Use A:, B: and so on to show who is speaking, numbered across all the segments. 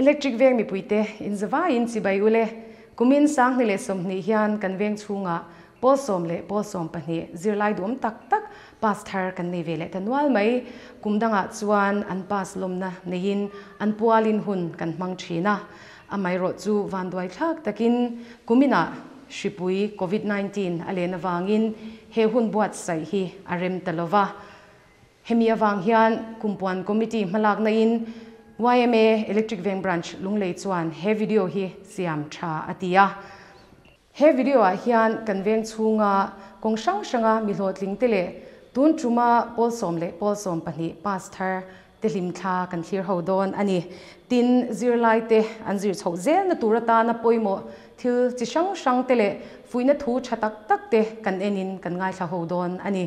A: Electric veng mipuite, in zavaiin chibai u le. Kumin Sanghni leh Sawmhnih hian kan veng chhunga Pawl sawm leh Pawl sawm pahnih zirlai duh awm tak tak pass thar kan nei ve leh ta nual mai. Kum dangah chuan an pass lawmna neiin an pualin hun kan hmang thin a. Amaherawh chu vanduai thlak takin Kumina hripui Covid nineteen a len avangin he hun buatsaih hi a rem ta lo va. Hemi avang hian kum puan committee hmalaknain yma Electric Veng Branch Lunglei chuan he video hi siam tha a ti a. He video ah hian kan veng chhunga kawng hrang hranga mi hlawhtling te leh tun tuma pawl sawm leh pawl sawm pahnih pass thar te hlim thla kan thlir ho dawn a ni. Tin, zirlai te an zir chhoh zel na tur atana pawimawh thil chi hrang hrang te leh fuihna thu tha tak tak te kan en in kan ngaithla ho dawn a ni.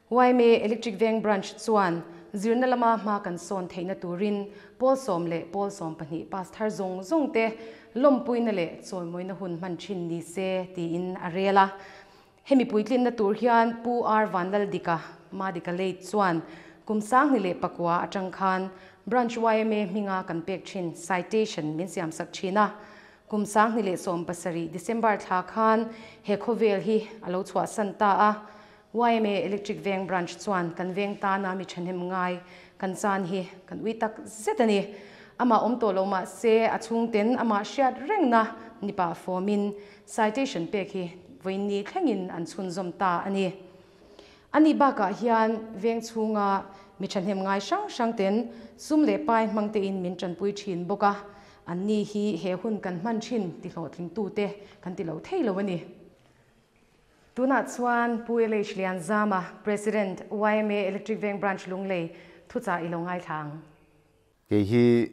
A: Yma Electric Veng Branch chuan zirna lama hma kan sawn theihna turin Pawl sawm leh Pawl sawm pahnih Pastor zawng zawng te lawmpuina leh chawimawina hun hman thin ni se tiin a rel a. Hemi puitlinna tur hian Pu R Vanlal Dika, Madika Late, chuan kum sangni leh pakua atang khan Branch yma hminga kan pek thin, Citation, min siam sak thin a. Kum sangni leh sawm pasarih, December, thla khan he khawvel hi a lo chhuahsan ta a. YMA Electric Veng Branch chuan kan veng tana mi thahnem ngai kan chan hi kan ui tak zet a ni. Amah awm tawh lo mah se a chhungten amah hriat rengna ni pah fawmin citation pek hi vawiin ni thlengin an chhunzawm ta a ni. A nih bakah hian veng chhunga mi thahnem ngai hrang hrang ten sum leh pai hmangtein min tanpui thin bawk a, anni hi he hun kan hman thin ti hlawhtling tute kan ti lo thei lo a ni. Tunah chuan Pu LH Lianzama, President, yma Electric Veng Branch Lunglei, Thuchah ilo ngaithla ang. Kei
B: hi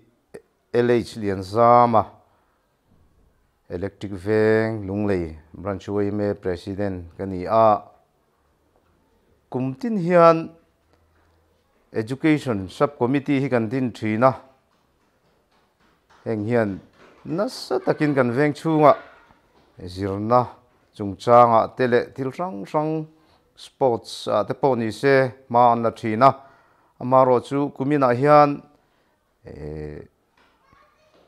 B: LH Lianzama, Electric Veng Lunglei Branch yma President ka ni a, kum tin hian Education Subcommittee hi kan din thin a, heng hian nasa takin kan veng chhunga zirna chungchangah te leh thil hrang hrang sports ah te pawh ni se hma an la thin a, amaherawh chu kuminah hian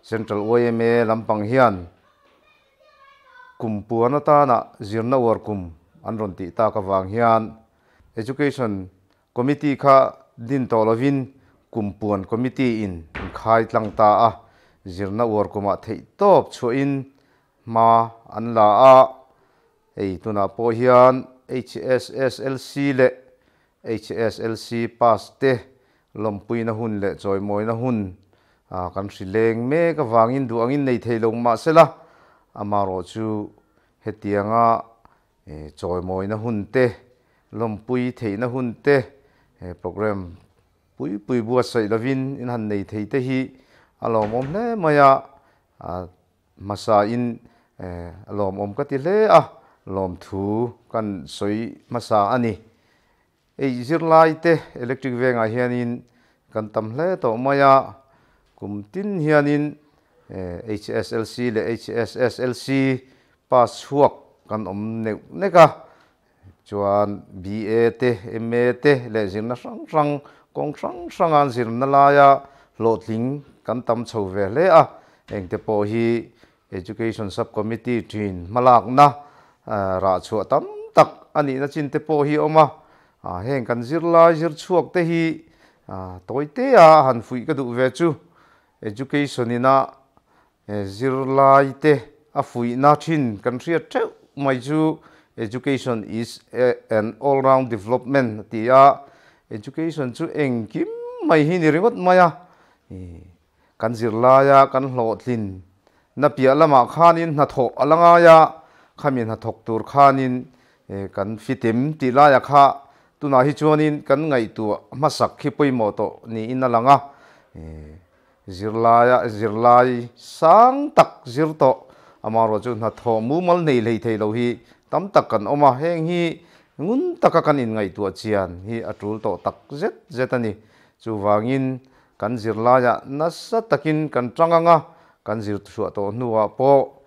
B: Central yma lampang hian kum puan atana zirna uar kum an rawn tih tak avang hian education Committee kha din tawh lovin kum puan committee in an khai tlang ta a, zirna uar kumah theih tawp chhuahin hma an la a, hei tunah pawh hian HSSLC leh HSLC pass te lawmpuina hun leh chawimawina hun kan hri leng mek avangin duh angin nei thei lo mahsela amarawh chu hetianga he chawimawina hun te, lawmpui theihna hun te he programme pui pui buatsaih lovin in han nei thei te hi a lawmawm hle mai a, a hmasa in a lawmawm ka ti hle a, lawmthu kan sawi hmasa a ni. Ei zirlai te electric vengah hianin kan tam hle tawh mai a, kum tin hianin HSLC leh HSSLC pass chhuak kan awm neuh nek a, chuan BA te MA te leh zirna hrang hrang kawng hrang hranga an zir na laia hlawhtling kan tam chho ve hle a, heng te pawh hi Education Subcommittee thin hmalakna rah chhuah tam tak a nihna chin te pawh hi a awm a, heng kan zirlai zirchhuak te hi tawi tea a han fuih ka duh ve chu. Education ina zirlaite a fuihna thin kan hriat theuh mai chu Education is an all round development a ti a, education chu engkim mai hi ni ringawt mai a, kan zirlaia kan hlawhtlin na piah lamah khanin hnathawh a la ngaia khami hnathawk tur khanin kan fitem tih laia kha tunah hi chuanin kan ngaihtuah hmasak khi pawimawh tawh niin a lang a, zirlaia zirlai sang tak zir tawh amaherawh chu hnathawh mumal hneih hlei thei lo hi tam tak kan awm a, heng hi ngun taka kan inngaihtuah chian hi a tul tawh tak zet zet a ni, chuvangin Kan zirlaia nasa takin kan ṭang ang a, kan zirtihruah tawh hnuah pawh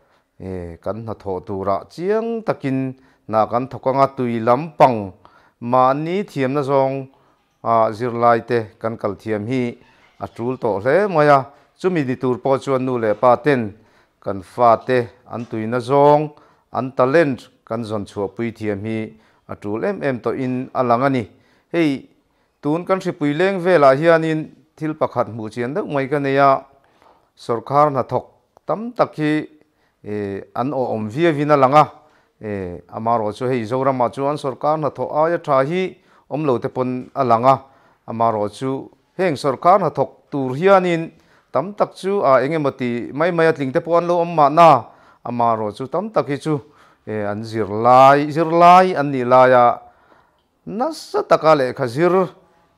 B: kan hnathawh turah chiang takin hna kan thawk ang a. Tui lampang mahni thiamna zawng ah zirlaite kan kal thiam hi a ṭul tawh hle mai a. Chumi ni tur pawh chuan nu leh pa ten kan fate an tuina zawng, an talent kan zawn chhuahpui thiam hi a ṭul em em tawhin a lang a ni. Hei Tun kan hripui leng velah hianin thil pakhat hmuh chian deuh mai ka nei a, sorkar hnathawk tam tak hi an awhawm viavin a lang a, amarawh chu hei Zorama chuan sorkar hnathawh aia tha hi awm lo te pawn a lang a, amarawh chu heng sorkar hnathawk tur hianin tam tak chu a eng emaw ti mai mai a tling te pawh an lo awm mahna amarawh chu tam tak hi chu an zir lai zir lai an nih lai a, Nasa taka lehkha zir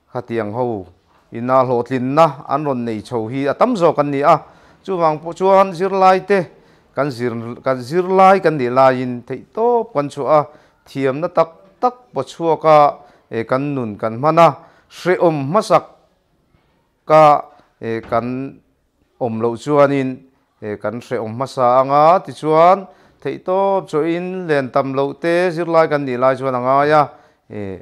B: khatiang ho ina hlawhtlinna an rawn nei chho hi a tam zawk an ni a. Chuvang pawh chuan zirlaite kan zir kan zirlai kan nih laiin theihtawp kan chhuah a, thiamna tak tak pawh chhuaka kan nun kan hman a, hrehawm hmasak Ka eh kan awm loh chuanin eh kan hrehawm hmasa ang a, tichuan theih tawp chawiin len tam loh te zirlai kan nih lai chuan a ngai a, eh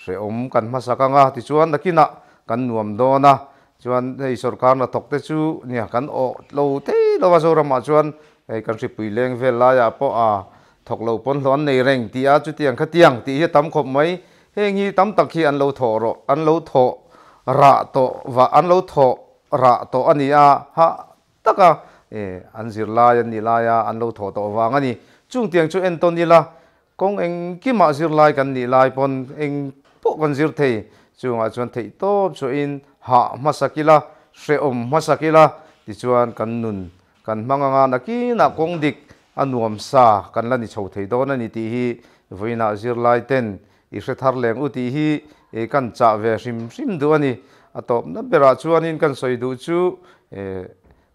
B: hrehawm kan hmasak ang a, tichuan nakinah kan nuam dawn a, chuan hei sorkar hna thawk te chu nia kan awh lo thei lo a, Zoramah chuan hei kan hripui leng vel laiah pawh ah thawk loh pawn hlawh an nei reng ti a, chutiang kha tiang tih hi a tam khawp mai, Heng hi tam tak hi an lo thawh rawh, an lo thawh rah tawh va, an lo thawh rah tawh a ni a, hah tak a, e, an zir lai an nih lai a, an lo thawh tawh vang a ni. Chung tiang chu entawn ila, kawng engkimah zir lai kan nih lai pawn eng pawh kan zir thei. Chungah chuan theih tawp chuahin hah hmasak ila, hrehawm hmasak ila tichuan kan nun Kan hmang anga nakinah kawng dik a nuam sa kan la ni chho thei dawn a ni tih hi vawiinah zirlaiten i hre thar leng u tih hi kan chah ve hrim hrim duh a ni. A tawpna berah chuanin kan sawi duh chu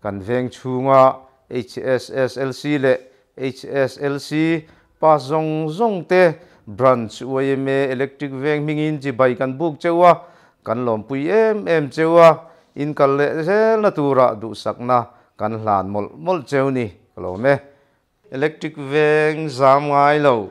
B: kan veng chhunga HSSLC leh HSLC, Pass zawng zawng te, Branch, UAMA, Electric veng hmingin chi bai kan buk cheu a, kan lawmpui em em cheu a, inkal leh zelna turah duhsakna kan hlan mawlh mawlh cheu ni ka lawm e. Electric veng zam ngai lo.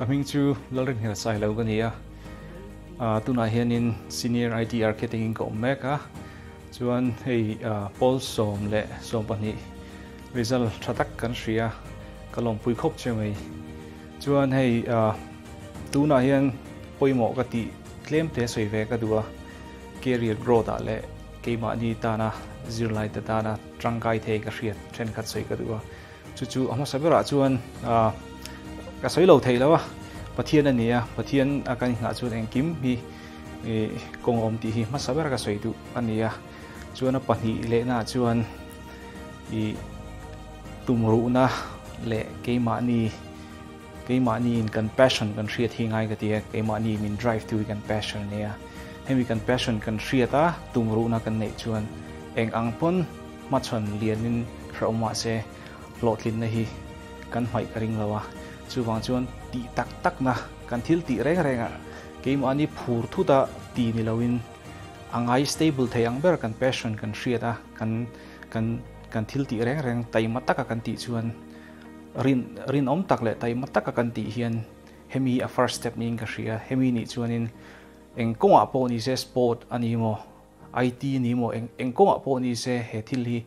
C: Ka hming chu Lalri Hmelsai lo ka ni a, tunah hianin Senior IT Architect in ka awm mek a, chuan hei Pawl sawm leh sawm pahnih result tha tak kan hria a, ka lawmpui khawp che mai. Chuan hei tunah hian pawimawh ka tih tlem te sawi ve ka duh a, career growth ah leh Keimahni tana zirlaite tana tangkai thei ka hriat thenkhat sawi ka duh a, chu chu a hmasa berah chuan ka sawi lo thei lo a, Pathian a nia, Pathian a kan inghah chuan engkim hi kawngawm tih hi hmasa ber ka sawi duh a nia. Chuan a pahnih lehnaah chuan tumruhna leh keimahni Keimahni in kan passion kan hriat hi ngai ka ti e, keimahni in min drive tu hi kan passion nia. Hemi kan passion kan hriat a, tumruhna kan neih chuan eng ang pawn hmachhawn lianin hrauh mah se hlawhtlinna hi kan hmaih ka ring lo a. Chuvang chuan tih tak takna, kan thil tih reng renga keimahni phur thuta ti ni loin a ngai stable thei ang ber kan passion kan hriat a, kan kan kan thil tih reng reng taima taka kan tih chuan, Rin, rinawm tak leh taima taka kan tih hian hemi hi a first step niin ka hria. Hemi nih chuanin eng kawngah pawh ni se sport a ni maw, IT a ni maw, eng eng kawngah pawh ni se he thil hi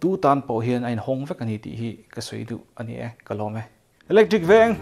C: tu tan pawh hian a inhawng vek a ni tih hi ka sawi duh a ni e, ka lawm e. Electric veng,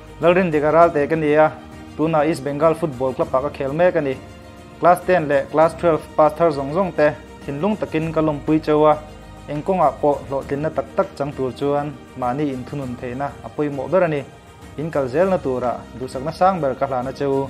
D: Lalrin dik a ral teh ka ni a, tunah East Bengal Football Club ah ka khel mek a ni. Class ten leh Class twelve pass thar zawng zawng te thinlung takin ka lawmpui cheu a, eng kawngah pawh hlawhtlinna tak tak chang tur chuan mahni inthunun theihna a pawimawh ber a ni. Inkal zel na turah duhsakna sang ber ka hlan a che u.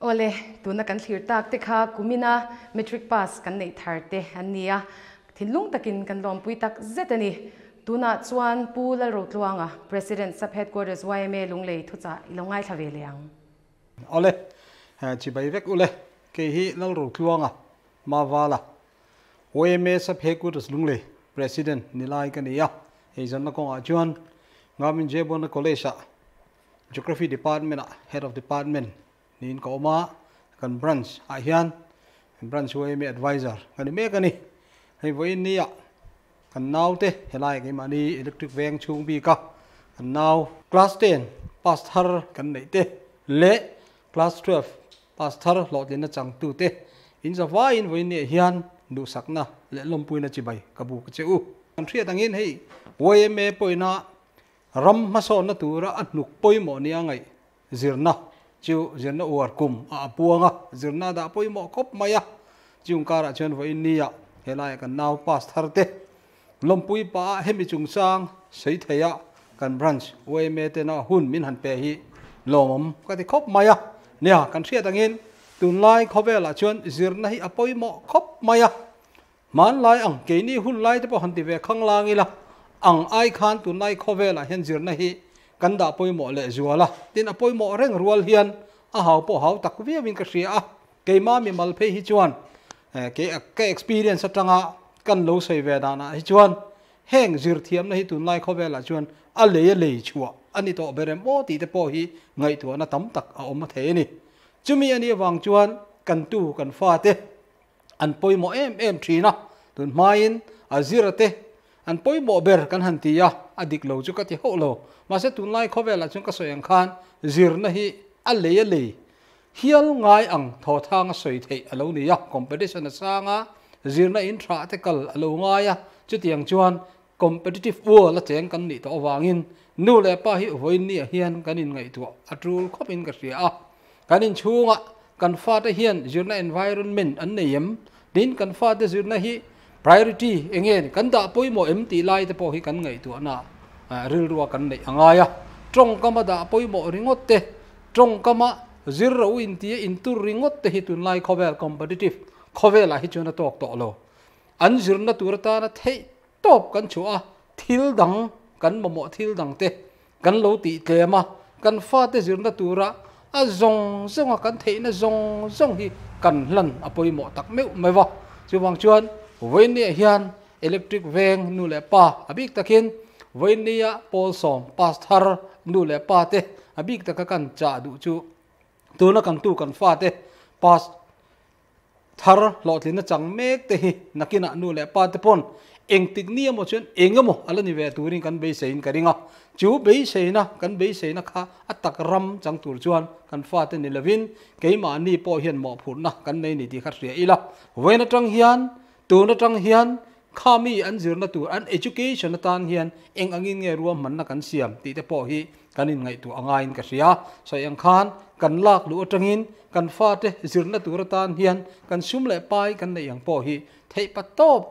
A: Awle, tuna kan thlir tak te kha kumina Matric pass kan neih thar te an ni a, thinlung takin kan lawmpui tak zet a ni. Tunah chuan Pu Lalrotluanga, President, Sub Headquarters yma lunglei thuchah i lo ngaithla ve leh ang. Awle,
E: chibai vek ule, kei hi Lalrotluanga Mawala yma Sub Headquarters lunglei President ni lai ka ni a, eizawnna kawngah chuan Ngarmin Jayabona College-ah Geography Department ah Head of Department niin ka awm a, kan Branch ah hian Branch UAME Advisor ka ni mek a ni. Hei vawiin ni ah kan nau te helai kei mahni Electric veng chhung bik a kan nau, Class Ten pass thar kan neih te leh Class Twelve pass thar hlawhtlin a chang tu te in za vaiin vawiin ni ah hian duhsakna leh lawmpuina chi bai ka buk che u. Kan hriat angin hei UAME pawhin a Ram hmasawrna tura a hnuk pawimawh nia ngaih zirna chu zirna uar kum a apuang a, zirna a dah pawimawh khawp mai a. Chung karah chuan vawiin nia he laia kan nau pass thar te lawmpui pa a hemi chungchang sawi theia kan branch UMA tena hun min han pe hi lawmawm ka ti khawp mai a nia kan hriat angin tunlai khawvelah chuan zirna hi a pawimawh khawp mai a Hmanlai ang, keini hun lai te pawh han ti ve khang lang ila, ang ai khan tunai khawvelah hian zirna hi kan dah pawimawh leh zual a, tin a pawimawh reng rual hian a hau pawh hau tak viauin ka hria a, keimah mimal phei hi chuan kei ka experience atanga kan lo sawi ve danah hi chuan heng zirthiamna hi tunlai khawvelah chuan a lei a lei chhuah a ni tawh ber em aw tih te pawh hi ngaihtuahna tam tak a awm a thei a ni. Chumi a nih avang chuan kan tu kan fate an pawimawh em em thin a tun hmain a zira te an pawimawh ber kan han ti a a dik lo chu ka ti hauh lo mahse tunlai khawvel ah chuan ka sawi ang khan zirna hi a lei a lei hial ngai ang thaw thang a sawi theih a lo ni a competition a sang a zirna in tha te kal a lo ngai a chutiang chuan Competitive world a cheng kan nih tawh avangin nu leh pa hi vawinia hian kan inngaihtuah a tul khawpin ka hria a, kan inchhunga kan fate hian zirna environment an nei em? Tin, kan fate zirna hi priority eng nge ni? Kan dah pawimawh em tih lai te pawh hi kan ngaihtuahna ah rilrua kan neih a ngai a. Tawngkama dah pawimawh ringawt te, tawngkama zir ro inti a intur ringawt te hi tunlai khawvel, competitive, khawvelah hi chuan a tawk tawh lo. An zirna tur atana theih tawp kan chuh a, thil dang kan mamawh thil dang te kan lo tih tlem a, kan fate zirna tura a zawng zawnga kan theihna zawng zawng hi kan hlan a pawimawh tak meuh mai va, chuvang chuan Vawinia hian Electric veng nu leh pa a bik takin Vawinia Pawl sawm pass thar nu leh pa te a bik taka kan chah duh chu tuna kan tu kan fate pass Thar hlawhtlinna chang mek te hi nakinah nu leh pa te pawn eng tikni emaw chuan eng emaw a la ni ve turin kan beiseiin ka ring a. Chu beiseina kan beiseina kha a tak ram chang tur chuan kan fate ni lovin keimahni pawh hian mawhphurhna kan nei ni tih kha hria ila. Vawiin atang hian tun atang hian Khami an zirna tur an education atan hian eng angin nge ruahmanna kan siam tih te pawh hi kan inngaihtuah a ngaiin ka hria. Sawi ang khan kan lak luh atangin kan fate zirna tur atan hian kan sum leh pai kan neih ang pawh hi theihpat tawp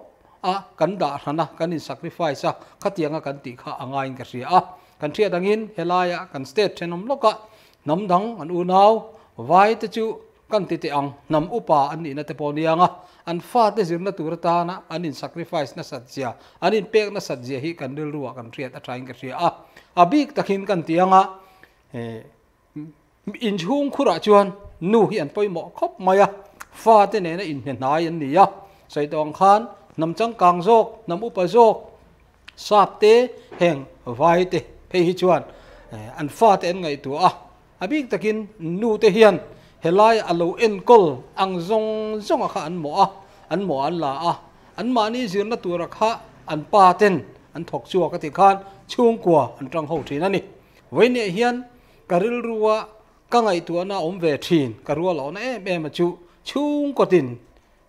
E: a kan dah hran a, kan in sacrifice a, khatianga kan tih kha a ngaiin ka hria a. Kan hriat angin helaia kan state thenawm lawkah Hnam dang an unau vai te chu kan ti teh ang, hnam upa an nihna te pawh ni anga an fate zirna tur atana an in sacrifice nasat zia, an in pek nasat zia hi kan rilruah kan hriat athain ka hria a. A bik takin kan ti anga inchhung khurah chuan nu hi an pawimawh khawp mai a, fate nena inhnehnai an ni a, sawi tawng khan hnam changkang zawk, hnam upa zawk, Sakte heng vaite phei hi chuan an fate an ngaihtuah a, a bik takin nu te hian helai a lo enkawl ang zawng zawnga kha an mawh a, an mawh an la a, anmahni zirna tura kha an pa ten an thawk chhuak a ti khan chhungkua an tang ho thin a ni. Vaineh hian ka rilru a, ka ngaihtuahna a awm ve thin, ka rual a awna em em a chu chhungkaw tin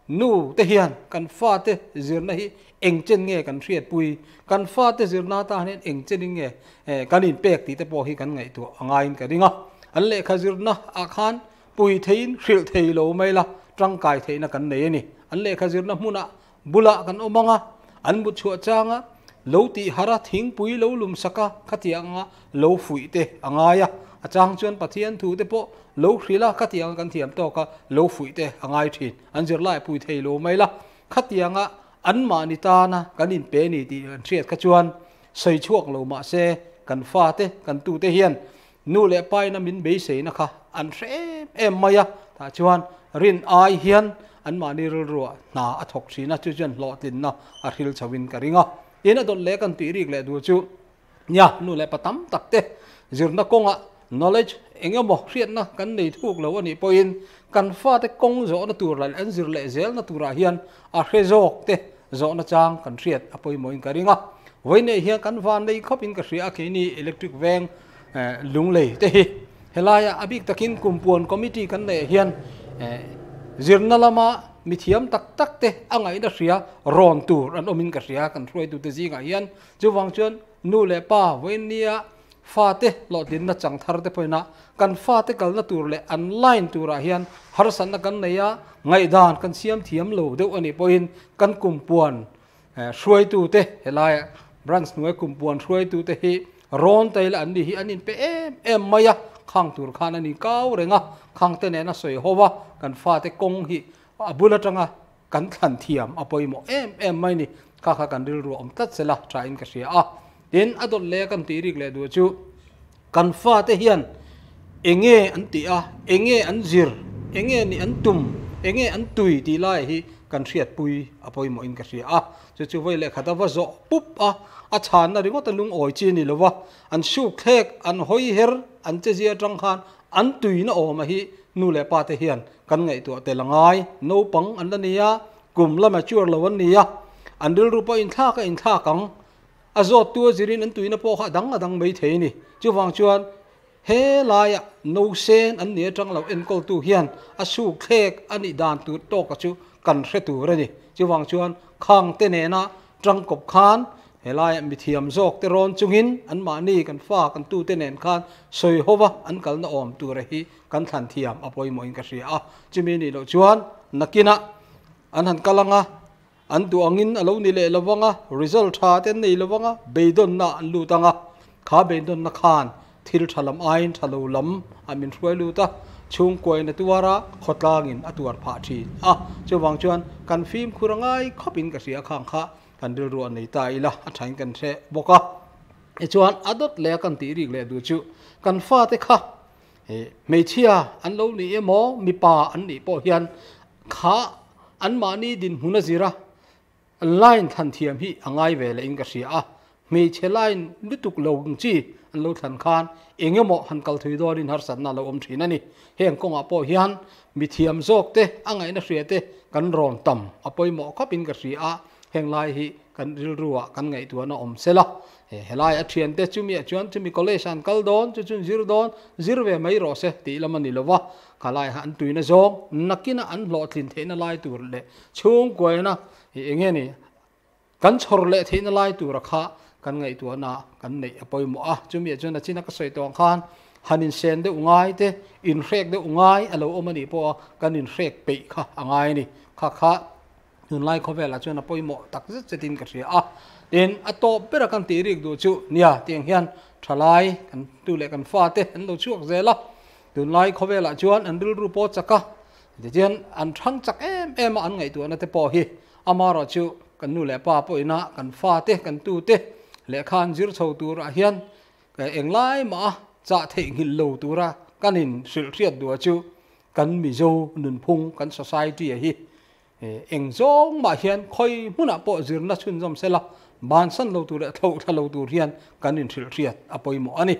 E: Nu te hian kan fa te zirna hi engchen nge kan hriatpui, kan fa te zirna atan hian engchenin nge kan inpek tih te pawh hi kan ngaihtuah a ngaiin ka ring a. An lehkha zirna ah khan pui theiin hrilh thei lo mai la tangkai theihna kan nei a ni. An lehkha zirna hmuna bulah kan awm ang a, an mutchhuah changa lo tihhar a, thingpui lo lumsak a, khatiang anga, lo fuih te a ngai a, a chang chuan Pathian thu te pawh lo hrilh a, khatiang a kan thiam tawk a, lo fuih te a ngai thin, an zirlai a pui thei lo mai la, khatiang a anmahni tana kan in pe ni tih an hriat kha chuan sawi chhuak lo mah se kan fa te kan tu te hian nu leh paina min beiseina kha an hre em em mai a, tah chuan rin ai hian anmahni rilru ah hna a thawk thin a, chu chuan hlawhtlin na a hrilh chho in ka ring a, tin a dawt leh kan tih rik leh duh chu. nia nu leh pa tam tak te zirna kawnga knowledge eng emaw hriatna kan nei thuk lo a nih pawhin kan fate kawng zawhna tur leh an zir leh zelna turah hian a hre zawk te zawhna chang kan hriat a pawimawhin ka ring a vawi neih hian kan van nei khawpin ka hria a keini electric veng eh, lunglei te hi helaia a bik takin kumpuan committee kan nei hian eh, zirna lama mithiam tak tak te a ngaihna hria rawn tur an awmin ka hria kan hruaitu te zingah hian Chuvang chuan nu leh pa, vawinia fate hlawhtlinna chang thar te pawhin a, kan fate kalna tur leh an line turah hian harsatna kan nei a, ngaihdan kan siam thiam lo deuh a nih pawhin kan kum puan hruaitute, helai branch hnuai kum puan hruaitute hi Rawngtail an nih hi an inpe em em mai a, khang tur khan an inkau reng a, khangte nena sawi ho a, kan fate kawng hi a bul atanga, Kan thlan thiam a pawimawh em em mai ni, kha kha kan rilru awm tlat sela tha in ka hria a. Tin, a dawt leh a kan tih rik leh duh chu kan fate hian eng nge an tih a, eng nge an zir, eng nge nih an tum, eng nge an tui tih lai hi kan hriatpui a pawimawh in ka hria a. Chu chu vawi leh khat a va zawh pup a, a chhanna ringawt a lungawi chi ni lova, an suk thlek, an hawi her, an che zia tang khan An tuin a awm a hi nu leh pa te hian kan ngaihtuah tel a ngai. Naupang an la ni a, kum la mature lo an ni a, an rilru pawh inthlak a inthlak ang. A zawttu azirin an tuina pawh kha a dang a dang mai thei a ni. Chuvang chuan he laia no sen an ni atang lo enkawltu hian a sukthlek a nih dan tur tawka chu kan hre tur a ni. Chuvang chuan khangte nena tangkawp khan He laia mithiam zawkte rawn chungin anmahni kan fa kan tute nen khan sawi ho va, an kalna awm tura hi kan thlan thiam a pawimawhin ka hria a. Chumi nih loh chuan nakina an han kal ang a, an duh angin a lo ni leh lo vang a, result tha te an nei lo vang a, beidawnna an lut ang a. Kha beidawnna khan thil tha lam aiin tha lo lam a min hruai lut a, chhungkuaina tuara khawtlangin a tuar phah thin a. Chuvang chuan kan fimkhur a ngai khawpin ka hria khang kha Kan rilru a nei ta ila a thain kan hre bawk a, tichuan a dawt leh a kan tih rîk leh duh chu kan fate kha he hmeichhia an lo nih emaw mipa an nih pawh hian kha anmahni dinhmun a zir a, line thlan thiam hi a ngai ve leh in ka hria a, Hmeichhe line lutuk lo chi an lo thlan khan eng emaw han kal thui dawnin harsatna a lo awm thin a ni. Heng kawngah pawh hian mithiam zawk te a ngaihna hria te kan rawn tam a pawimawh khawpin ka hria a, heng lai hi kan rilru ah kan ngaihtuahna a awm sela. He lai a thian te chumi ah chuan chumi college ah an kal dawn chu chun zir dawn, zir ve mai rawh se tih lam a ni lova, kha lai ah an tuina zawng nakina an hlawhtlin theihna lai tur leh chhungkuaina eng nge ni, Kan chhawr leh theihna lai tura kha kan ngaihtuahna kan neih a pawimawh a. Chumi ah chuan a china ka sawi tawh ang khan han insen deuh ngai te, inhrek deuh ngai a lo awm a nih pawh a, kan inhrek peih kha a ngai a ni. Kha kha tunlai khawvel ah chuan a pawimawh tak zet zet in ka hria a. Tin, a tawp ber a kan tih rîk duh chu nia tiang hian tha lai kan tu leh kan fa te an lo chhuak zel a. Tunlai khawvel ah chuan an rilru pawh chak a, tichuan an hrang chak em em a an ngaihtuahna te pawh hi Amah erawh chu kan nu leh pa pawhina kan fa te, kan tu te lehkha an zir chho turah hian eng lai maha chah theihnghilh lo tura kan inhrilh hriat duh ah chu kan Mizo nunphung kan society a hi eng zawng mah hian khawi hmunah pawh zirna chhunzawm sela bansan lo tur leh thlauhthla lo tur hian kan inhrilh hriat a pawimawh a ni.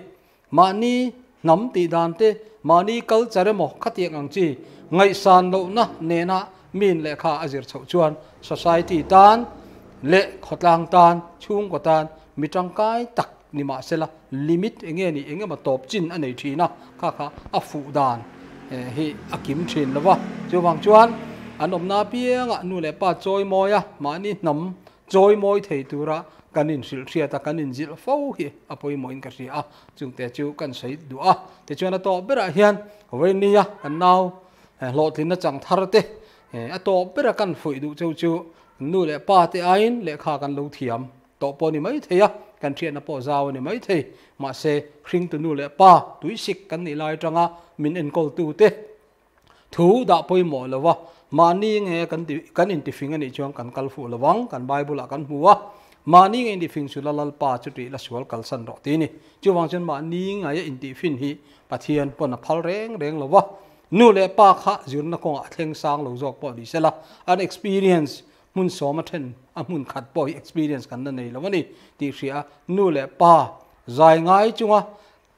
E: Mahni hnam tih dan te, mahni culture emaw khatiang ang chi ngaihsan lohna nena min leh kha a zir chhoh chuan society tan leh khawtlang tan, chhungkaw tan mi tangkai tak ni mah se la limit eng nge ni eng emaw tawp chin a nei thin a kha kha a fuh dan hi a kim thin lo va. Chuvang chuan an awmna apiangah nu leh pa chawi mawia mahni hnam Chawimawi thei tura kan inhrilhhriat a, kan inzilh fo hi a pawimawhin ka hria a, chute chu kan sawi duh a. Tichuan a tawp berah hian Vainia kan nau hlawhtlin achang thar te a tawp bera kan fuih duh cheu chu nu leh pa te aiin lehkha kan lo thiam tawh pawh ni maithei a, kan hriatna pawh zau a ni maithei. Mahse, hringtu nu leh pa tuisik kan nih lai atanga min enkawltute, Thu dah pawimawh lo va, mahni nge kan ti kan intifing a nih chuan kan kal fuh lo vang, kan Bible-ah kan hmu a, mahni nge intifing chu la Lalpa chutih la sual kalsan rawh ti ni. Chuvang chuan mahni ngaia intifin hi Pathian pawn a phal reng reng lo va, nu leh pa kha zirna kawngah a thleng sang lo zawk pawh ni sela, an experience hmun sawm a then a hmun khat pawh hi experience kan la nei lo a ni tih hria, nu leh pa zai ngai chunga,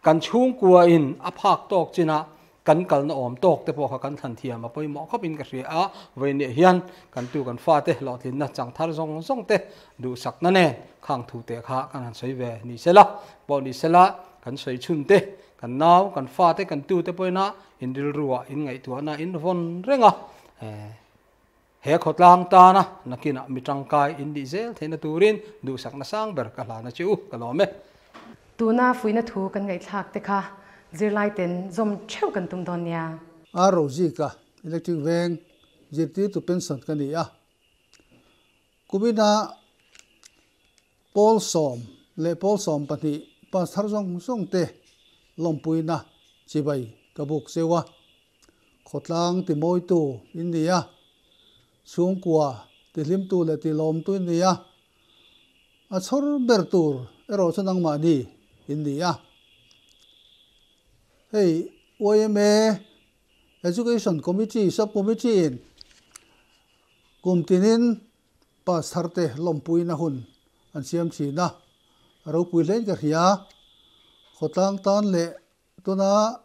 E: Kan chhungkua in a phak tawk chin ah kan kalna awm tawk te pawh kha kan thlan thiam a pawimawh khawp in ka hria a, vei nih hian kan tu kan fa te hlawhtlinna chang thar zawng zawng te duhsakna nen khang thu te kha kan han sawi ve ni se la pawh ni se la kan sawi chhun te kan nau kan fa te kan tu te pawhin a in rilru ah in ngaihtuah na in vawn reng a. He khawtlang tana nakinah mi tangkai in nih zel theihna turin duhsakna sang ber ka hlan a che u, ka lawm e. Tuna
A: fuihna thu kan ngaihthlak te kha zirlaiten zawm theuh kan tum dawn nia. A Rosie ka
F: electric veng zirtirtu pension ka ni a, Kumina Pawl sawm leh Pawl sawm pahnih pastor zawng zawngte lawmpuina chibai ka buk cheu a. Khawtlang timawitu in ni a, chhungkua tihlimtu leh tilawmtu in ni a, a chhawr ber tur erawh chu nangmahni in ni a. Hei yma Education Committee, Subcommittee, in kum tinin Pastor te lawmpuina hun an siam thin a, a ropui hlein ka hria, Khawtlang tan leh Tuna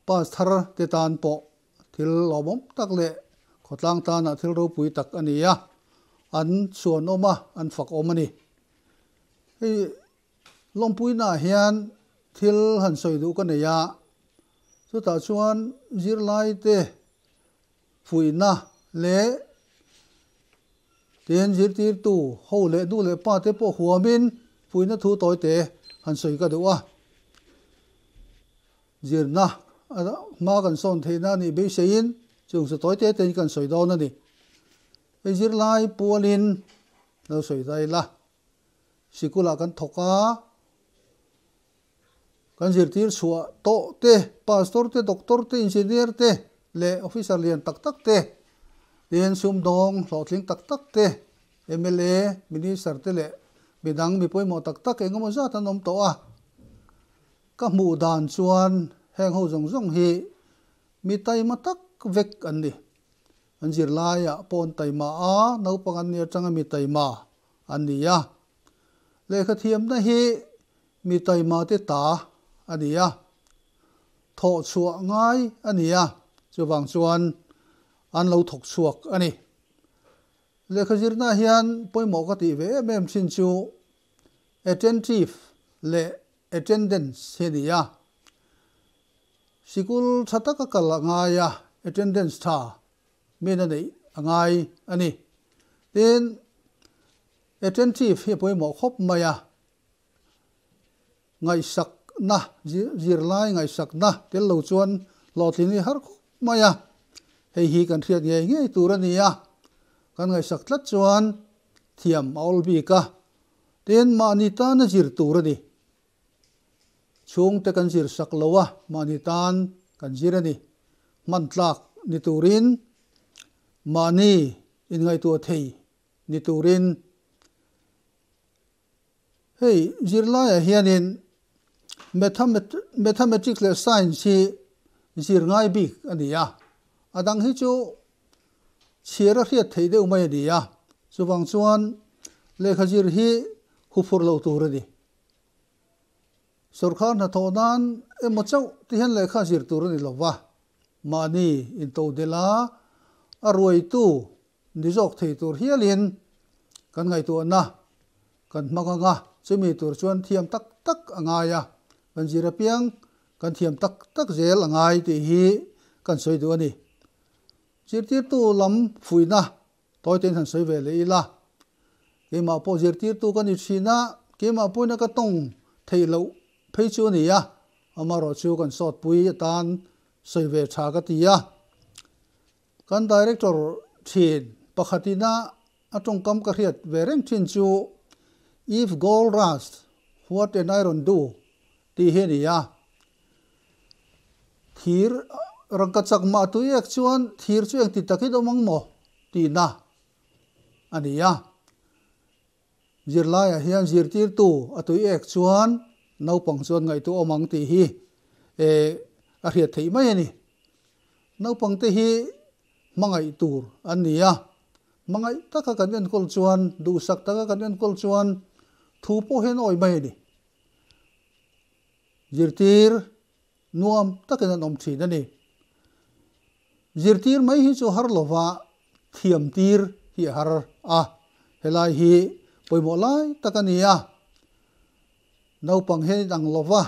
F: Pastor te tan pawh thil lawmawm tak leh khawtlang tana thil ropui tak a ni a, an chuan awm a, an fak awm a ni. Hei lawmpuinah hian thil han sawi duh ka nei a, chutah chuan zirlaite Fuihna leh Ken zirtirtu ho leh nu leh pa te pawh huamin fuihna thu tawi te han sawi ka duh a, zirna a hma kan sawn theihna anih beiseiin chung chu tawi te tein kan sawi dawn a ni. Hei zirlai pualin lo sawi zai la. sikul ah kan thawk a, kan zirtir chhuah tawh te, pastor te, doctor te, engineer te leh officer lian tak tak te, tin sumdawng hlawhtling tak tak te, mla, minister te leh midang mi pawimawh tak tak eng emaw zat an awm tawh a, ka hmuh dan chuan heng ho zawng zawng hi mi taima tak vek an ni, an zirlai ah pawn taima a, naupang an ni atanga mi taima a ni a. Lehkha thiamna hi mi taimate ta a ni a, thawh chhuah ngai a ni a, chuvang chuan an lo thawk chhuak a ni. Lehkha zirna hian pawimawh ka tih ve em em chin chu attentive leh attendance hi a ni a. Sikul tha taka ka la ngai a, attendance tha. Min a neih a ngai a ni. Tin, attentive hi a pawimawh khawp mai a, ngaihsakna, zirlai ngaihsakna tel lo chuan hlawhtling hi a har khawp mai a, hei hi kan hriat ngei ngei tur a ni a, kan ngaihsak tlat chuan thiam a awlbik a, tin mahni tana zir tur a ni. Chhungte kan zir sak lo a, mahni tan kan zir a ni. Hman tlak ni turin, mahni inngaihtuah thei ni turin hei zirlaiah hianin Mathematics leh Science hi zir ngai bik a ni a, a dang hi chu chhiar a hriat theih deuh mai a ni a, chuvang chuan lehkha zir hi huphurh lo tur a ni. Sorkar hnathawh nan emaw chauh te hian lehkha zir tur a ni lo va, mahni intohdela a ruaitu ni zawk thei tur hialin kan ngaihtuahna kan hmang anga chumi tur chuan thiam tak tak a ngai a, kan zir apiang kan thiam tak tak zel a ngai tih hi kan sawi duh a ni. Zirtirtu lam fuihna Tawite in han sawi ve leh ila, keimah pawh zirtirtu ka ni thin a, keimah pawhin a ka tawng theih loh phei chu a ni a, amarawh chu kan sawtpui atan sawi ve tha ka ti a. Kan Director thin pakhat ina a tawngkam ka hriat ve reng thin chu Eve Gold Rust, What and Iron Do? Tih hi a ni a, thir rangka chak mah tui ek chuan thir chu engti tak i dawm ang maw tihna a ni a. Zirlaiah hian zirtirtu a tui ek chuan naupang chuan ngaihtuah awm ang tih hi a hriat theih mai a ni. Naupangte hi hmangaih tur an ni a, hmangaih taka kan enkawl chuan, duhsak taka kan enkawl chuan thu pawh hian a awih mai a ni. zirtir nuam takin an awm thin a ni. Zirtir mai hi chu har lova thiam tir hi a har a, helai hi pawimawh lai tak a ni a, naupang hian in ang lo va,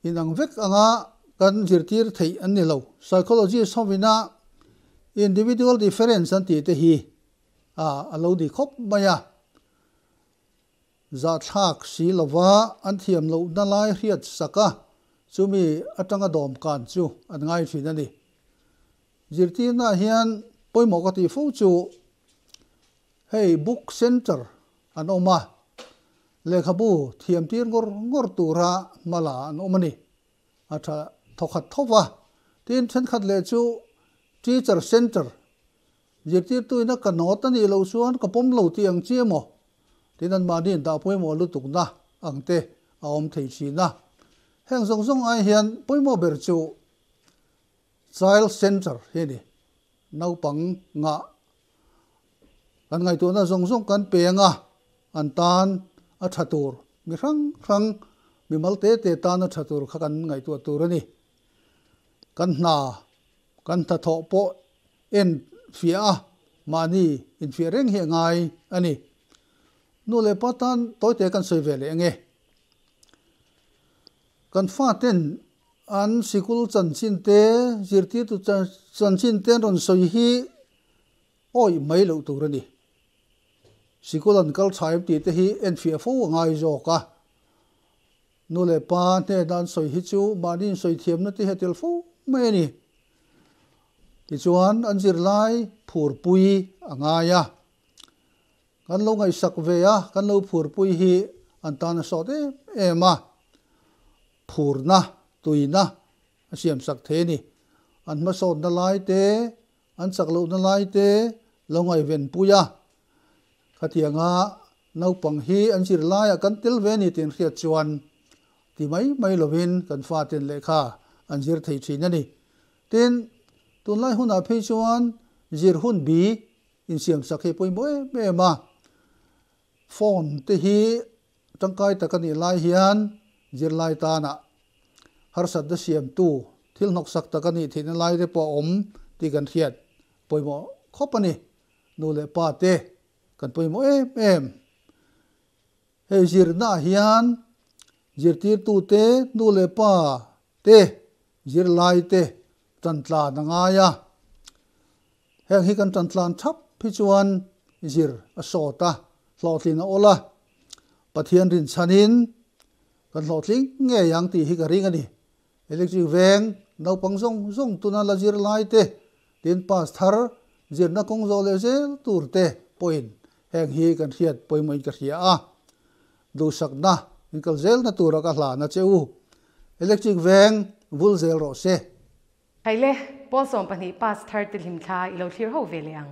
F: in ang vek anga kan zirtir theih an ni lo. Psychologist ho vina individual difference an tih te hi a lo ni khawp mai a. Zahthlak si lova an thiam loh na lai hriat sak a, chumi atanga dawmkan chu an ngai thin a ni. Zirtirnaah hian pawimawh ka tih fo chu hei Book Centre an awm a, lehkhabu thiamtir ngawr ngawr tura hma la an awm a ni. A tha thawkhat tho va, tin thenkhat leh chu Teacher Centre Zirtirtu ina ka nawt a nih loh chuan ka pawm lo tih ang chi emaw? tin an mahniin dah pawimawh lutukna ang te a awm thei thin a. Heng zawng zawng ai hian pawimawh ber chu Child Centre hi a ni. Naupang ngah kan ngaihtuahna zawng zawng kan peng a, an tan a tha tur, mi hrang hrang, mi mal te te tan a tha tur kha kan ngaihtuah tur a ni. Kan hna kan hnathawh pawh en fiah a, mahni infiah reng hi a ngai a ni. Nu leh pa tan tawite kan sawi ve leh eng e? Kan faten an sikul chanchinte, zirtirtu chanchinte an rawn sawi hi awih mai loh tur a ni. Sikul an kal chhai em tihte hi en fiah fo a ngai zawk a. Nu leh pa hnena an sawi hi chu mahni insawihthiamna te hian tel fo mai a ni. Tichuan an zirlai phurpui a ngai a. Kan lo ngaihsak ve a, kan lo phurpui hi an tana sawt em em a. Phurna, tuina a siamsak thei a ni. An hmasawtna lai te An chak lohna lai te lo ngaihven pui a, khatiang a naupang hi an zir lai a kan tel ve a ni tih an hriat chuan ti mai mai lovin kan fa ten leh kha an zir thei thin a ni. Tin, tunlai hunah phei chuan zir hun bi insiamsak hi a pawimawh em em a. Phone te hi tangkai tak a nih lai hian zirlai tana harsatna siamtu thil hnawksak tak a nih theih na lai te pawh a awm tih kan hriat pawimawh khawp a ni. Nu leh pa te kan pawimawh em em. Hei zirnaah hian zirtirtute, nu leh pa te, zirlai te Tantlan a ngai a, heng hi kan tantlan thap hi chuan zir a sawt a, hlawhtlin a awlh a, Pathian rinchhanin kan hlawhtling ngei ang tih hi ka ring a ni. Electric veng naupang zawng zawng tuna la zir lai te, tin pastor zirna kawng zawh leh zel tur te pawhin Heng hi kan hriat pawimawhin ka hria a, duhsakna, min kal zelna tura ka hla na che u. Electric veng vul zel rawh se. Hai le,
A: Paul sawm pahnih pass thar te hlim thla i lo thlir ho ve leh ang.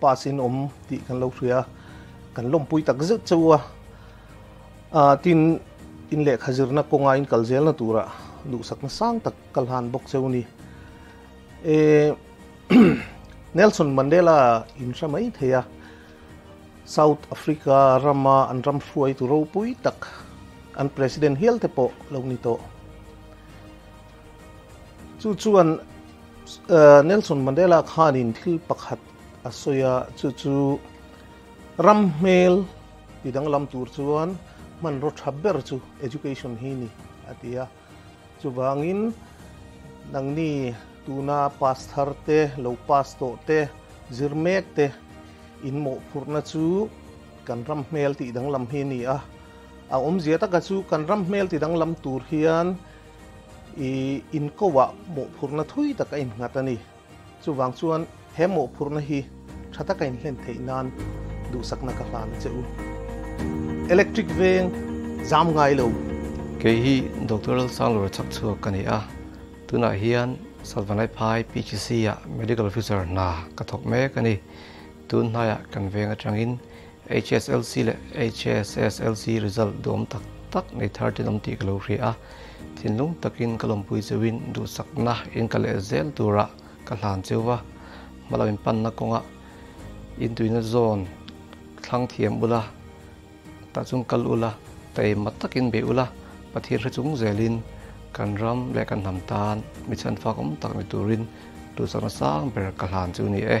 G: Pa sin awm tih kan lo hria, kan lawmpui tak zet che u a. Ahh tin in lehkha zirna kawnga in kal zelna tura duhsak nasang tak ka hlan bawk che u ni. Ehh Nelson Mandela in hre mai thei a, South Africa rama an ram hruaitu ropui tak an President hial te pawh lo ni tawh. Chu chuan Nelson Mandela khanin thil pakhat a sawi a, chu chu ram hmel ti danglam tur chuan hmanraw tha ber chu education hi ni a ti a. Chuvangin nangni tuna pastor te, lo pass tawh te, zir mek te in mawhphurhna chu kan ram hmel ti danglam hi ni a. A awmzia taka chu kan ram hmel ti danglam tur hian I in kohah mawhphurhna thui tak a in nghat a ni. Chuvang chuan he mawhphurhna hi tha taka in hlen theih nan duhsakna ka hlan che u. Electric veng zam ngai lo. Kei hi
H: Doctor Lalsang Lura chak chhuak ka ni a, tunah hian Satvanaiphai PHC ah Medical Officer hna ka thawk mek a ni. Tun hnaiah kan veng atangin HSLC leh HSSLC result dawm tak tak nei thar chin awm tih ka lo hria a, thinlung takin ka lawmpui cheuhin duhsakna in ka leh zel tura ka hlan cheu a, hmalo in panna kawnga intuihna zawn thlang thiam ula, tah chung kal ula, tei mat takin be ula, Pathian hre chung zelin kan ram leh kan hnam tan mi chhan fak awm tak ni turin duhsakna sang ber ka hlan chu ni e.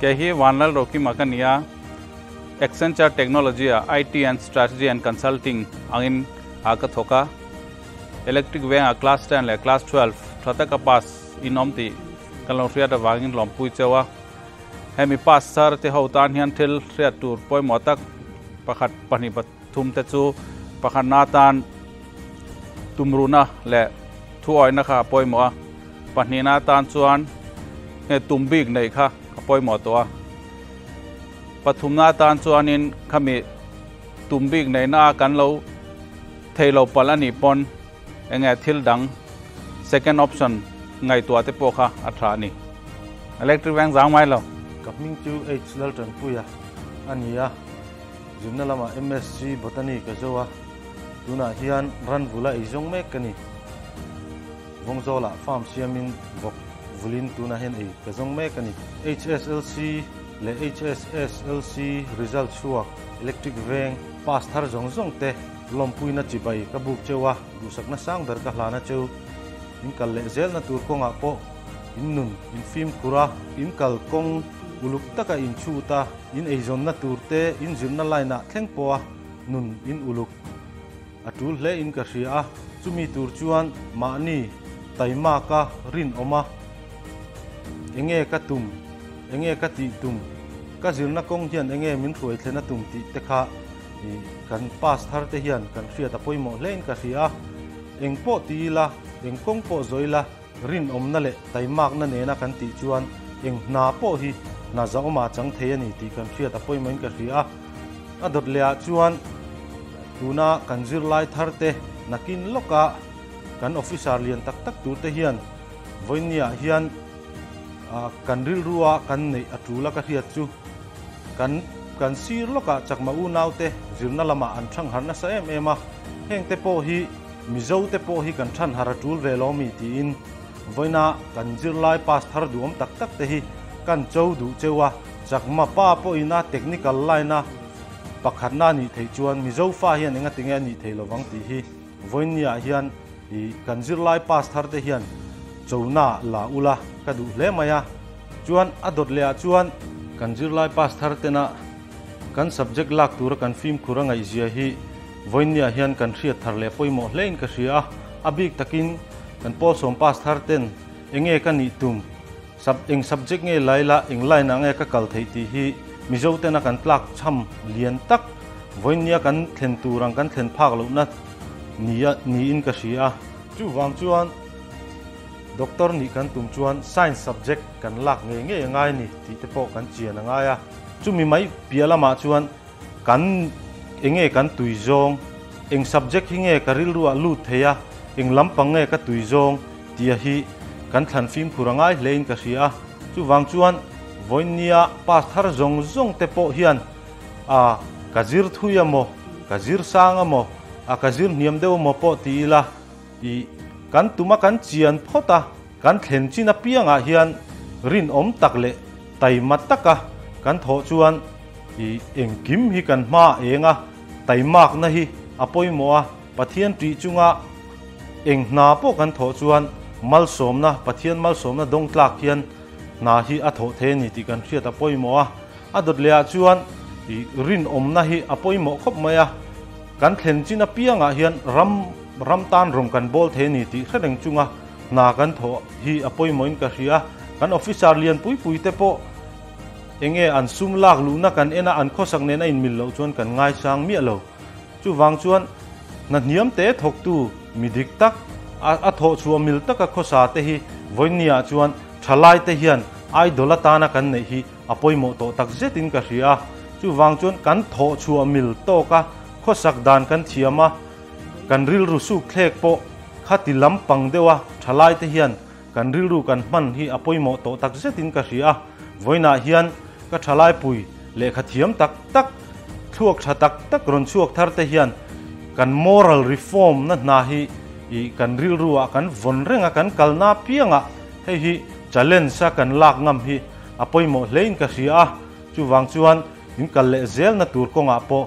I: Kei hi Vanlal Rokim a ka ni a, Accenture Technology-a IT and Strategy and Consulting angin a ka thawk a. Electric vengah Class Ten leh Class Twelve tha taka pass in awm tih kan lo hriat avangin lawmpui cheu a. Hemi pass sar te ho tan hian thil hriat tur pawimawh tak pakhat pahnih Thum te chu pakhatna atan tumruhna leh thuawihna kha a pawimawh a, pahnihna atan chuan hne tum bik neih kha a pawimawh tawh a. Pathumna atan chuanin khami tum bik neihna a kan lo thei lo palh a nih pawn eng nge thil dang second option ngaihtuah te pawh kha a tha a ni. Electric veng zau mai lo. Ka hming chu
G: H. Laltanpuia a ni a. Zirna lamah MSc Botany ka zo a, tunah hian ran vula ei zawng mek ka ni. Vawng zawlah farm siamin vawk vulin tunah hian ei ka zawng mek a ni. HSLC leh HSSLC result chhuak, electric veng, pass thar zawng zawng te, lawmpuina chibai ka buk cheu a, duhsakna sang ber ka hlan a cheu. Inkal leh zelna tur kawngah pawh in nun, in fimkhur a. Inkal kawng uluk taka in chhut a. In eizawnna tur te in zirna line ah thleng pawha nun in uluk a tul hle in ka hria a, chumi tur chuan mahni taimak a rinawm a, enge ka tum, enge ka tih tum, ka zirna kawng hian enge min hruai thlen a tum tih te kha kan pass thar te hian kan hriat a pawimawh hle in ka hria a, eng pawh ti ila, eng kawng pawh zawi ila, Rinawmna leh taimakna nena kan tih chuan eng hna pawh hi hna zauma a chang thei a ni tih kan hriat a pawimawhin ka hria a. A dawt lehah chuan tuna kan zirlai thar te nakin lawka kan officer lian tak tak tur te hian vawinia hian kan rilru a kan neih a tul a ka hriat chu. Kan kan sir lawkah chakma unaute zirna lamah an ṭhangharh nasa em em a, hengte pawh hi. Mizo te pawh hi kan thanhar a tul ve lo mi tiin vawiina kan zirlai pass thar duh awm tak tak te hi kan cho duh cheu a, chak mapa pawhin a technical line a pakhatna a nih theih chuan Mizofa hian enga tinge a nih thei lovang tih hi vawiinia hian i kan zirlai pass thar te hian cho na la ula ka duh hle mai a, chuan a dawt leh ah chuan. Kan zirlai pass thar tena kan subject lak tura kan fimkhur a ngaihzia hi. Vawinia hian kan hriat thar leh pawimawh hlein ka hria. A bik takin kan Paul Sawm Pastor ten enge ka nih tum, sub eng subject nge lai la, eng line ah nge ka kal theih tih hi Mizo tena kan tlak chham lian tak Vawinia kan thlen tur ang kan thlen phak loh na ni a niin ka hria. Chuvang chuan Doctor nih kan tum chuan Science subject kan lak ngei ngei a ngai a ni tih te pawh kan chian a ngai a. Chumi mai piah lamah chuan Kan eng nge kan tui zawng? Eng subject hi nge ka rilruah lut thei a? Eng lampang nge ka tui zawng? tia hi kan thlan fimkhur a ngai hlein ka hria a. Chuvang chuan vawinia pass thar zawng zawng te pawh hian a ka zir thui a maw, ka zir sang a maw, a ka zir hniam deuh a maw pawh ti ila i kan tuma kan chian phawt a, Kan thlen chin apiangah hian rinawm tak leh taima taka kan thawh chuan i engkim hi kan hma eng a, taimakna hi a pawimawh a, Pathian tih chunga eng hna pawh kan thawh chuan malsawmna, Pathian malsawmna dawngtlak hian hna hi a thawh thei a ni tih kan hriat a pawimawh a. A dawt lehah chuan i rinawmna hi a pawimawh khawp mai a, kan thlen chin apiangah hian ram ram tan rawng kan bawl thei a ni tih hre reng chunga, Hna kan thawh hi a pawimawhin ka hria, kan officer lian pui pui te pawh eng nge an sum lak luhna kan en a, an khawsak nen a inmil loh chuan kan ngaisang miah lo. Chuvang chuan hnahniam te thawktu mi dik tak, a thawh chhuah mil taka khawsa te hi Vawinia chuan thalai te hian idol atana kan neih hi a pawimawh tawh tak zet in ka hria. Chuvang chuan kan thawh chhuah mil tawka khawsak dan kan thiam a, Kan rilru sukthlek pawh khati lampang deuha thalaite hian kan rilru kan hman hi a pawimawh tawh tak zetin ka hria a, vawiinah hian ka thalaipui lehkha thiam tak tak, thluak tha tak tak rawn chhuak thar te hian kan moral reform na hna hi i kan rilru ah kan vawn reng a, kan kalna apiangah hei hi challenge a kan lak ngam hi a pawimawh hlein ka hria a, chuvang chuan in kal leh zel na tur kawngah pawh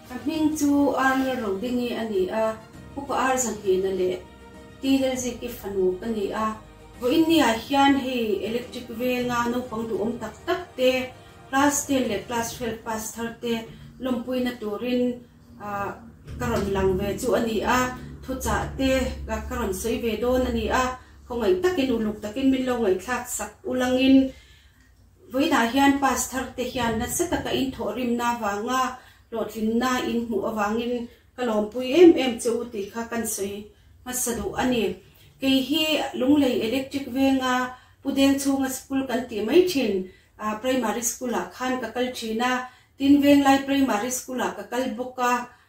J: A hming chu Arlel Rawdingi a ni a, Puka Arzahnghena leh Tihlelziki fanu a ni a. Vawiinnia hian hei electric venga naupang duhawm tak tak te, class ten leh class twelve pass thar te lawmpuina turin ka rawn lang ve chu a ni a, thuchah te ka rawn sawi ve dawn a ni a, khawngaih takin uluk takin min lo ngaihthlak sak ulangin. Vawiinah hian Pastor te hian nasa taka inthawhrimna avanga hlawhtlinna in hmuh avangin ka lawmpui em em che u tih kha kan sawi hmasa duh a ni. Kei hi Lunglei Electric venga Pu Deng chhunga school kan tih mai thin ah Primary school ah khan ka kal thin a, Tinvenglai Primary school ah ka kal bawk a,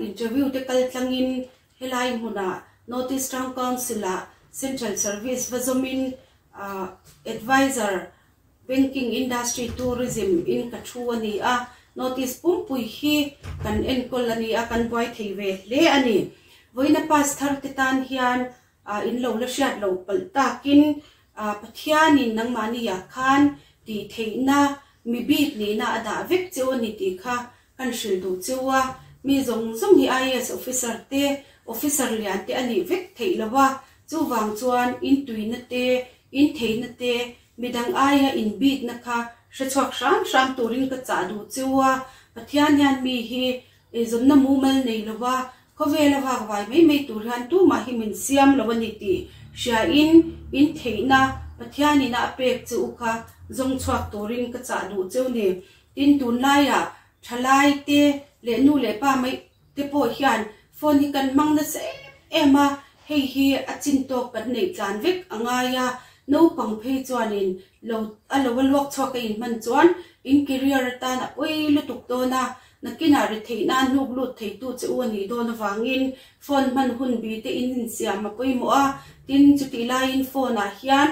J: Interview te kal tlangin helai hmunah North East Town Council-a Central Service va zawmin Advisor, Banking, Industry, Tourism in ka thu a ni a, North East pumpui hi kan enkawl a ni a, kan buai thei ve hle a ni. Vawiina pass thar te tan hian A in lo la hriat lo palh tak in a Pathian in nangmahni ah khan tih theih na mi bik nih na a dah vek cheu a ni tih kha kan hrilh duh cheu a, mi zawng zawng hi IAS officer te, officer lian te a nih vek theih lo a, chu vang chuan in tui na te, in thei na te, mi dang ai a in bik na kha hre chhuak hram hram tur in ka chah duh cheu a, Pathian hian mi hi Eizawnna mu mal nei lova, khawvel a vak vai mai mai tur hian tumah hi min siam lo a ni tih hriain in theihna Pathianin a pek che u kha zawng chhuak turin ka chah duh cheu ni. Tin, tunlaiah thalaite leh nu leh pa mai te pawh hian phone hi kan hmang nasa em em a, hei hi a chin tawk kan neih tlan vek a ngai a. Naupang phei chuanin lo a lo a luak chhuak a inhman chuan in career atan a pawi lutuk dawn a. Nakinah ri theih nan hnuk lut theitu che u a nih dawn avangin phone hman hun bite in insiam a pawimawh a, tin chutih laiin phone ah hian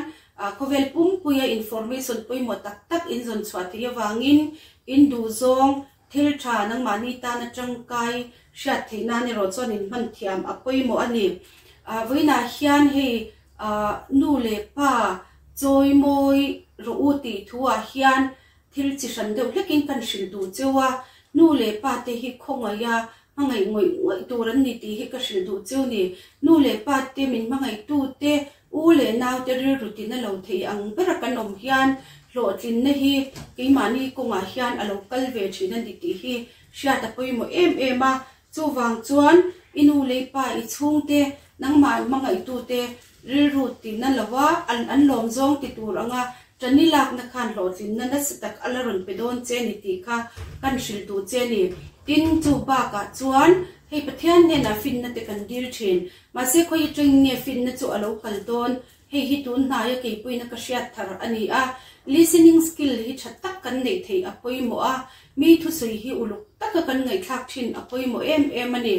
J: khawvel pumpuia information pawimawh tak tak in zawn chhuah thei avangin in duhzawng thil tha nangmahni tan a tangkai hriat theih nan erawh chuan in hman thiam a pawimawh a ni. Vawiinah hian hei nu leh pa chawi mawi rawh u tih thu ah hian Thil chi hran deuh hlekin kan hrilh duh cheu a, nu leh pa te hi khawngaia hmangaih ngawih ngawih tur an ni tih hi ka hrilh duh cheu ni. Nu leh pa te, min hmangaihtute, u leh naute rilru tina lo theih ang bera kan awm hian hlawhtlinna hi keimahni kawngah hian a lo kal ve thin a ni tih hi hriata pawimawh em em a, Chuvang chuan, I nu lei pa, i chhungte, nangmah an hmangaihtu-te rilru ti na lo a, an an lawm zawng ti tur anga Tani lakna khan hlawhtlinna nasa tak a la rawn pe dawn che ni tih kha kan hrilh duh che ni. Tin, chu bakah chuan hei Pathian hnenah fitna te kan dil thin. Mahse khawi atangin nge fitna chu a lo kal dawn Hei hi tun hnaia keipuina ka hriat thar a ni a, listening skill hi tha tak kan neih theih a pawimawh a, mi thusui hi uluk taka kan ngaihthlak thin a pawimawh em em a ni.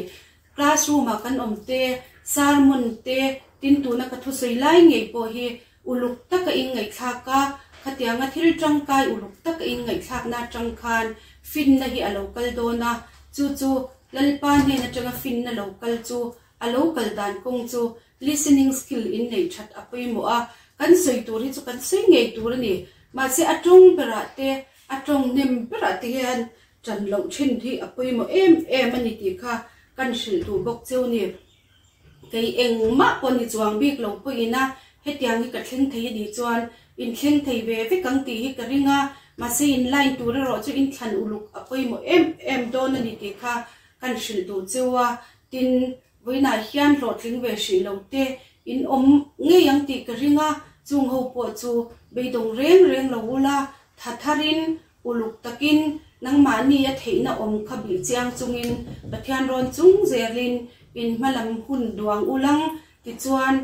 J: Classroom ah kan awmte, sermon te tin tuna ka thusawi lai ngei pawh hi uluk taka in ngaihthlak a, khatianga thil tangkai uluk taka in ngaihthlakna atang khan finna hi a lo kal dawn a, chu chu Lalpa hnen atanga finna lo kal chu a lo kal dan kawng chu Listening skill in neih that a pawimawh a, kan sawi tur hi chu kan sawi ngei tur a ni. Mahse a tawng berah te, a tawng nem berah te hian tan loh thin hi a pawimawh em em a ni tih kha kan hrilh duh bawk cheu ni. Kei engmah pawh ni chuang bik lo pawhin a, hetiang hi ka thleng thei a nih chuan in thleng thei ve vek ang tih hi ka ring a, mahse in line tur erawh chu in thlan uluk a pawimawh em em dawn a ni tih kha kan hrilh duh cheu a, tin Vawiinah hian hlawhtling ve hrih lo te in awm ngei ang tih ka ring a, chung ho pawh chu beidawng reng reng lo u la, tha thar in, uluk tak in, nangmahni a theihna awm kha bih chiang chung in, Pathian rawn chungzêl in, in hma lam hun duang u lang, tichuan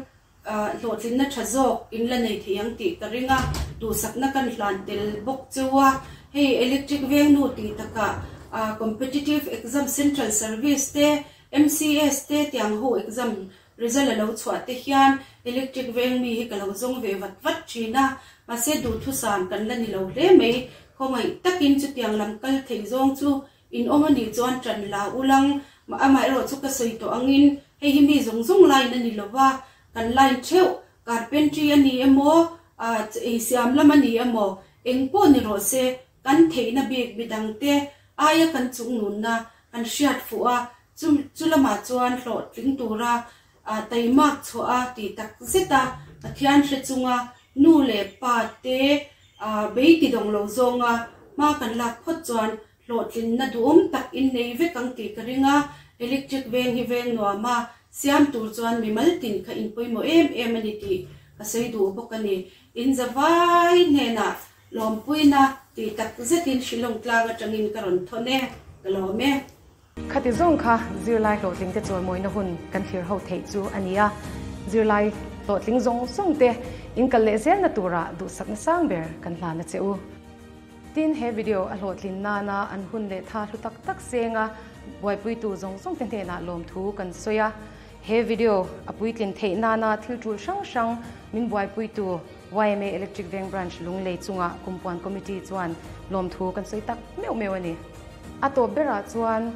J: Hlawhtlinna tha zawk in la nei theih ang tih ka ring a, duhsakna kan hlan tel bawk che a. Hei electric vengnu tih takah Competitive Exam Central Service te, MCS, te tiang ho exam result a lo chhuah te hian electric veng mi hi ka lo zawng ve vat vat thin a. Mahse, duhthusam kan la ni lo hle mai. Khawngaih takin chutiang lam kal thei zawng chu In awm anih chuan ṭan la u lang, amaherawh chu ka sawi tawh angin hei hi mi zawng zawng line a ni lo va, kan line ṭheuh, carpentry a ni emaw, ih siam lam a ni emaw, eng pawh ni rawh se, kan theihna bik midang te aia kan chungnunna kan hriat fuh a, chu chu lamah chuan hlawhtling tura ah taimak chhuah a ti tak zet a, Pathian hre chunga nu leh pa te ah bei ti dawng lo zawnga hma kan lak phawt chuan hlawhtlinna duhawm tak in nei vek ang tih ka ring a, electric veng hi veng nuam a, siam tur chuan mi maltin kha inpawimawh em em a ni tih ka sawi duh bawk a ni. In zavai hnenah lawmpuina ti tak zetin hrilawm tlang atangin ka rawn thawn e, ka lawm e. Khati
A: zawng kha zirlai hlawhtling te chuan mawina hun kan thlir ho theih chu a ni a, zirlai hlawhtling zawng zawng te inkal leh zelna tura duhsakna sang ber kan hlan a che u. Tin, he video a hlawhtlin nana an hun leh tha hlu tak tak senga buaipuitu zawng zawng te hnenah lawmthu kan sawi a, he video a puitlin theih nana thiltul hrang hrang min buaipuitu, YMA Electric Veng Branch Lunglei chungah kum puan committee chuan lawmthu kan sawi tak meuh meuh a ni. A tawp berah chuan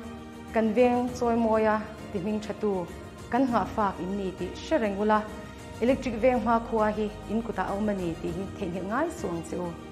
A: kan veng chawi mawi a ti hming thatu kan nghah fak in ni tih hre reng ula, electric veng hma khua hi in kutah a awm a ni tih hi theihnghilh ngai suh ang che u.